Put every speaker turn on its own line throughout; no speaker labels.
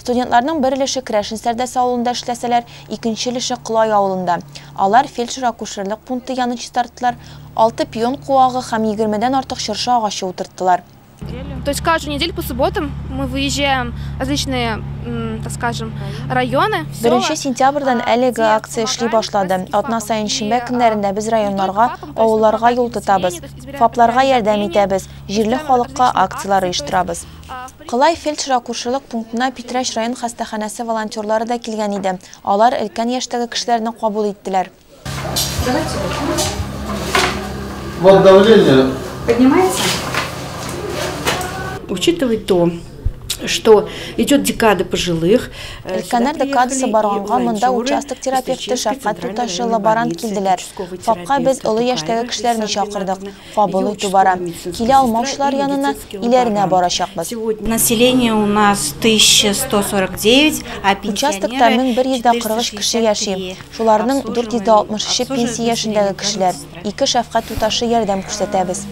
Студентларның бер өлеше Крәшен Сәрдәс авылында эшләсәләр, икенче өлеше Колай авылында. Алар фельдшер-акушерлык пункты янын чистарттылар, алты пион куагы һәм егермедән артык чыршы агачы утырттылар. То есть
каждую неделю по субботам мы выезжаем в различные, так скажем, районы, села. Беренче сентябрьдән
әлеге акция эшли башлады. Атна саен шимбә көннәрендә без районнарга, авылларга юл тотабыз, ФАПларга ярдәм итәбез, җирле халыкка акцияләр оештырабыз. Кылай фельдшер-акушерлык пунктына Питрәч район хастаханәсе волонтерлары да килгән иде. Алар өлкән яшьтәге кешеләрне кабул иттеләр.
Өлкәннәр
декадасы барганга монда участок терапевты, шәфкать туташы, лаборант килделәр. ФАПка без олы яшьтәге кешеләрне чакырдык. кабул итү бара. Килә алмаучылар янына иләренә барачакбыз. Население у
нас 1149, а Участокта
1143 кеше яши. Шуларның 463-е пенсия яшендәге кешеләр. Ике шәфкать туташы ярдәм күрсәтәбез.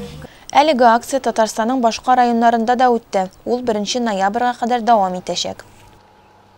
Әлеге акция Татарстанның башка районнарында да үтте, ул 1 ноябрьгә кадәр дәвам итәчәк.